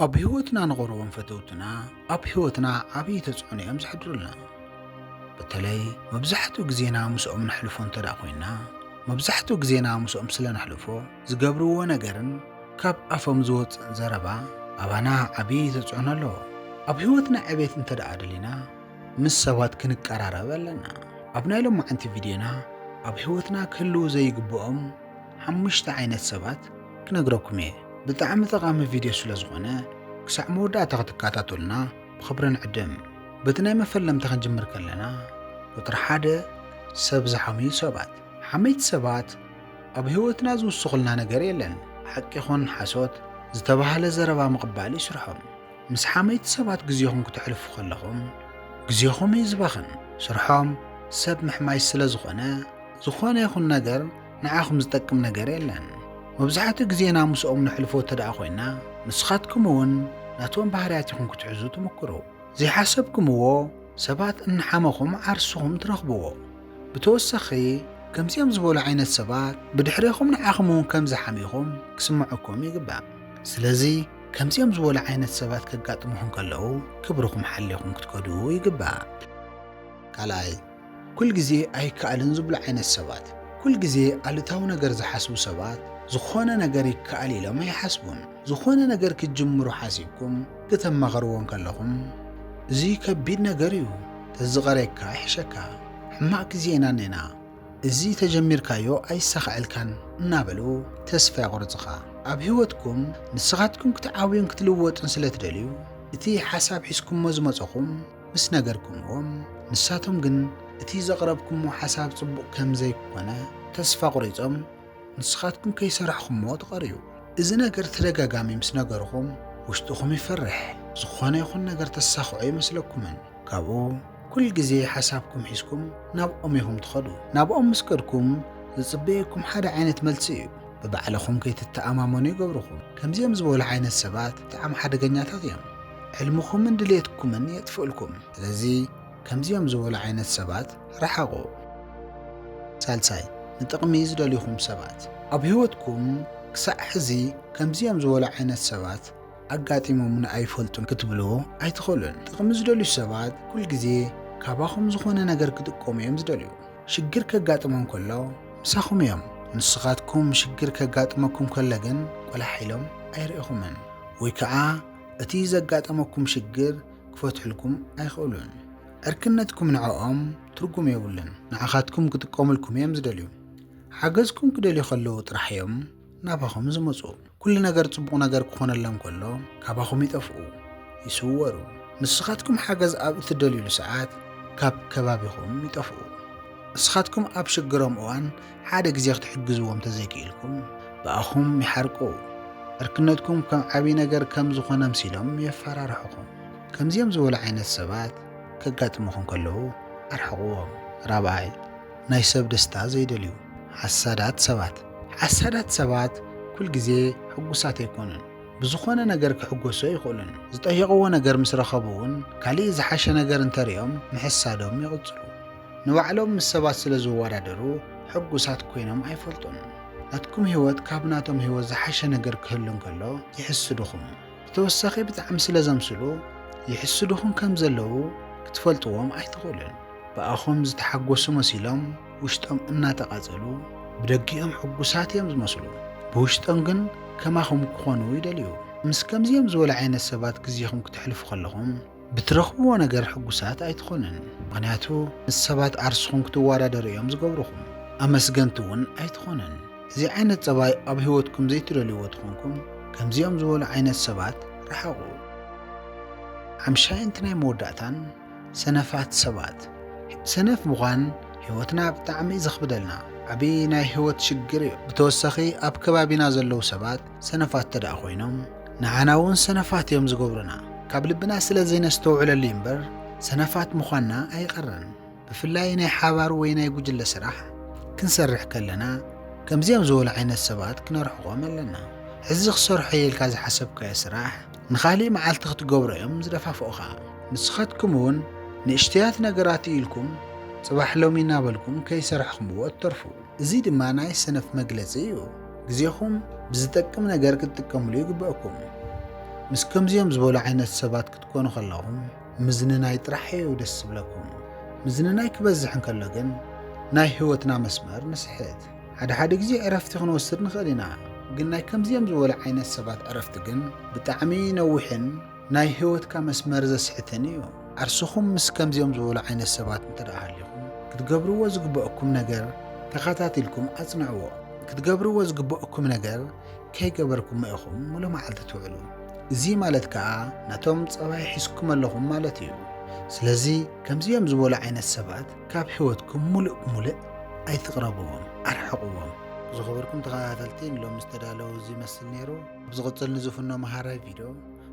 ኣብ ህይወትና ንቐርቦም ፈተውትና ኣብ ህይወትና ዓብዪ ተጽዕኖ እዮም ዘሕድሩልና በተለይ መብዛሕትኡ ግዜና ምስኦም ነሕልፎ እንተ ደኣ ኾይንና መብዛሕትኡ ግዜና ምስኦም ስለ ነሕልፎ ዝገብርዎ ነገርን ካብ ኣፎም ዝወፅእን ዘረባ ኣባና ዓብዪ ተፅዕኖ ኣለዎ ኣብ ህይወትና ዕቤት እንተ ደኣ ደሊና ምስ ሰባት ክንቀራረብ ኣለና ኣብ ናይ ሎማዓንቲ ቪድዮና ኣብ ህይወትና ክህልው ዘይግብኦም ሓሙሽተ ዓይነት ሰባት ክነግረኩም እየ። ብጣዕሚ ጠቓሚ ቪድዮ ስለ ዝኾነ ክሳዕ መወዳእታ ክትከታተሉና ብኽብሪ ንዕድም። በቲ ናይ መፈለምታ ክንጅምር ከለና ቁፅሪ ሓደ ሰብ ዝሓምዩ ሰባት። ሓመይቲ ሰባት ኣብ ህይወትና ዝውስኹልና ነገር የለን። ሓቂ ይኹን ሓሶት ዝተባህለ ዘረባ ምቕባል እዩ ስርሖም። ምስ ሓመይቲ ሰባት ግዜኹም ክተሕልፉ ከለኹም ግዜኹም እዩ ዝባኽን። ስርሖም ሰብ ምሕማይ ስለ ዝኾነ ዝኾነ ይኹን ነገር ንዓኹም ዝጠቅም ነገር የለን። መብዛሕትኡ ግዜና ምስኦም ነሕልፎ እተደኣ ኮይና፣ ንስኻትኩም እውን ነቶም ባህርያት ኢኹም ክትሕዙ ትምኩሩ። ዘይሓሰብኩምዎ ሰባት እናሓመኹም ዓርስኹም ትረኽብዎ። ብተወሳኺ ከምዚኦም ዝበሉ ዓይነት ሰባት ብድሕሬኹም ንዓኹም እውን ከም ዝሓምዩኹም ክስምዑኩም ይግባእ። ስለዚ ከምዚኦም ዝበሉ ዓይነት ሰባት ከጋጥሙኹም ከለዉ ክብርኹም ሓሊኹም ክትከዱ ይግባእ። ካልኣይ ኩል ግዜ ኣይከኣልን ዝብሉ ዓይነት ሰባት። ኩል ግዜ ኣሉታዊ ነገር ዝሓስቡ ሰባት ዝኾነ ነገር ይከኣል ኢሎም ኣይሓስቡን። ዝኾነ ነገር ክትጅምሩ ሓሲብኩም ክተማኽርዎ እንከለኹም እዚ ከቢድ ነገር እዩ፣ ተዝቐርየካ ይሕሸካ፣ ሕማቕ ግዜ ኢና እኔና፣ እዚ ተጀሚርካዮ ኣይሳኸዐልካን እናበሉ ተስፋ የቑርፅኻ። ኣብ ህይወትኩም ንስኻትኩም ክትዓብዩን ክትልወጡን ስለትደልዩ እቲ ሓሳብ ሒዝኩሞ ዝመፀኹም ምስ ነገርኩምዎም ንሳቶም ግን እቲ ዘቕረብኩሞ ሓሳብ ጽቡቕ ከም ዘይኮነ ተስፋ ኣቑሪጾም ንስኻትኩም ከይሰርሕኩሞ ትቐርዩ። እዚ ነገር ተደጋጋሚ ምስ ነገርኹም ውሽጥኹም ይፈርሕ ዝኾነ ይኹን ነገር ተሳኽዑ ኣይመስለኩምን ካብኡ ኩል ግዜ ሓሳብኩም ሒዝኩም ናብኦም ኢኹም ትኸዱ ናብኦም ምስ ከድኩም ዝጽበየኩም ሓደ ዓይነት መልሲ እዩ ብባዕልኹም ከይትተኣማመኑ ይገብርኹም ከምዚኦም ዝበሉ ዓይነት ሰባት ብጣዕሚ ሓደገኛታት እዮም። ሕልምኹምን ድሌትኩምን የጥፍእልኩም። ስለዚ ከምዚኦም ዝበሉ ዓይነት ሰባት ርሓቑ። ሳልሳይ፣ ንጥቕሚ ዝደልዩኹም ሰባት። ኣብ ህይወትኩም ክሳዕ ሕዚ ከምዚኦም ዝበሉ ዓይነት ሰባት ኣጋጢሞምኒ ኣይፈልጡን ክትብሉ ኣይትኽእሉን። ጥቕሚ ዝደልዩ ሰባት ኩል ግዜ ካባኹም ዝኾነ ነገር ክጥቀሙ እዮም ዝደልዩ። ሽግር ከጋጥሞም ከሎ ምሳኹም እዮም። ንስኻትኩም ሽግር ከጋጥመኩም ከሎ ግን ቆላሕ ኢሎም ኣይርእኹምን ወይ ከኣ እቲ ዘጋጠመኩም ሽግር ክፈትሑልኩም ኣይኽእሉን። ዕርክነትኩም ንዕኦም ትርጉም የብሉን። ንዓኻትኩም ክጥቀሙልኩም እዮም ዝደልዩ። ሓገዝኩም ክደልዩ ከለዉ ጥራሕ እዮም ናባኹም ዝመጹ። ኩሉ ነገር ጽቡቕ ነገር ክኾነሎም ከሎ ካባኹም ይጠፍኡ፣ ይስወሩ። ንስኻትኩም ሓገዝ ኣብ እትደልዩሉ ሰዓት ካብ ከባቢኹም ይጠፍኡ። እስኻትኩም ኣብ ሽግሮም እዋን ሓደ ግዜ ክትሕግዝዎም ተዘይክኢልኩም ብኣኹም ይሓርቁ። ዕርክነትኩም ከም ዓብዪ ነገር ከም ዝኾነ ኣምሲሎም የፈራርሑኹም። ከምዚኦም ዝበሉ ዓይነት ሰባት ከጋጥሙኹም ከለዉ ኣርሕቕዎም። ራብዓይ፣ ናይ ሰብ ደስታ ዘይደልዩ ሓሳዳት ሰባት። ሓሳዳት ሰባት ኩል ግዜ ሕጉሳት ኣይኮኑን። ብዝኾነ ነገር ክሕጎሱ ኣይኽእሉን። ዝጠየቕዎ ነገር ምስ ረኸቡ እውን ካሊእ ዝሓሸ ነገር እንተሪኦም ምሕሳዶም ይቕፅሉ። ንባዕሎም ምስ ሰባት ስለ ዝወዳደሩ ሕጉሳት ኮይኖም ኣይፈልጡን። ናትኩም ህይወት ካብ ናቶም ህይወት ዝሓሸ ነገር ክህሉ እንከሎ ይሕስዱኹም። ብተወሳኺ ብጣዕሚ ስለ ዘምስሉ ይሕስዱኹም ከም ዘለዉ ክትፈልጥዎም ኣይትኽእሉን። ብኣኹም ዝተሓጎሱ መሲሎም ውሽጦም እናተቓጸሉ ብደጊኦም ሕጉሳት እዮም ዝመስሉ። ብውሽጦም ግን ከማኹም ክኾኑ ይደልዩ። ምስ ከምዚኦም ዝበሉ ዓይነት ሰባት ግዜኹም ክተሕልፉ ከለኹም፣ ብትረኽብዎ ነገር ሕጉሳት ኣይትኾኑን ምኽንያቱ ምስ ሰባት ዓርስኹም ክትዋዳደሩ እዮም ዝገብሩኹም ኣመስገንቲ እውን ኣይትኾኑን እዚ ዓይነት ጸባይ ኣብ ህይወትኩም ዘይትደልይዎ ትኾንኩም ከምዚኦም ዝበሉ ዓይነት ሰባት ረሓቑ ሓምሻይን እቲ ናይ መወዳእታን ሰነፋት ሰባት ሰነፍ ምዃን ህይወትና ብጣዕሚ ዘኽብደልና ዓብዪ ናይ ህይወት ሽግር እዩ ብተወሳኺ ኣብ ከባቢና ዘለዉ ሰባት ሰነፋት ተደኣ ኮይኖም ንዓና ውን ሰነፋት እዮም ዝገብሩና ካብ ልብና ስለ ዘይነስተውዕለሉ እዩ እምበር ሰነፋት ምዃንና ኣይቀርን ብፍላይ ናይ ሓባር ወይ ናይ ጉጅለ ስራሕ ክንሰርሕ ከለና ከምዚኦም ዝበሉ ዓይነት ሰባት ክነርሕቆም ኣለና ሕዚ ክሰርሖ እየ ኢልካ ዝሓሰብካዮ ስራሕ ንኻሊእ መዓልቲ ክትገብሮ እዮም ዝደፋፍኡኻ ንስኻትኩም እውን ንእሽተያት ነገራት ኢልኩም ጽባሕ ሎሚ እናበልኩም ከይሰርሕኹምዎ እትተርፉ እዚ ድማ ናይ ሰነፍ መግለጺ እዩ። ግዜኹም ብዝጠቅም ነገር ክትጥቀምሉ ይግበእኩም። ምስ ከምዚኦም ዝበሉ ዓይነት ሰባት ክትኮኑ ከለኹም ምዝንናይ ጥራሕ እዩ ደስ ዝብለኩም። ምዝንናይ ክበዝሕ እንከሎ ግን ናይ ህይወትና መስመር ንስሕት። ሓደ ሓደ ግዜ ዕረፍቲ ክንወስድ ንኽእል ኢና፣ ግን ናይ ከምዚኦም ዝበሉ ዓይነት ሰባት ዕረፍቲ ግን ብጣዕሚ ነዊሕን ናይ ህይወትካ መስመር ዘስሕትን እዩ። ዓርስኹም ምስ ከምዚኦም ዝበሉ ዓይነት ሰባት እንተድኣ ሃሊኹም፣ ክትገብርዎ ዝግበኣኩም ነገር ተኸታቲልኩም ኣጽንዕዎ። ክትገብርዎ ዝግበኣኩም ነገር ከይገበርኩሞ ኢኹም ምሉእ መዓልቲ ትውዕሉ። እዚ ማለት ከኣ ነቶም ጸባይ ሒዝኩም ኣለኹም ማለት እዩ። ስለዚ ከምዚኦም ዝበሉ ዓይነት ሰባት ካብ ህይወትኩም ምሉእ ብምሉእ ኣይትቕረብዎም፣ ኣርሕቕዎም። ዝኸበርኩም ተኸታተልቲ ንሎሚ ዝተዳለወ እዚ ይመስል ነይሩ። ብዝቕፅል ንዝፍኖ መሃራይ ቪድዮ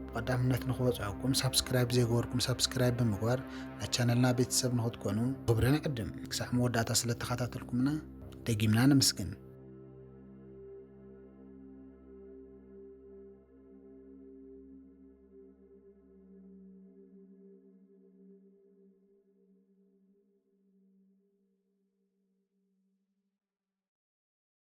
ብቐዳምነት ንክበፅሐኩም ሳብስክራይብ ዘይገበርኩም ሳብስክራይብ ብምግባር ናይ ቻነልና ቤተሰብ ንክትኮኑ ክብሪ ንዕድም። ክሳዕ መወዳእታ ስለተኸታተልኩምና ደጊምና ነመስግን።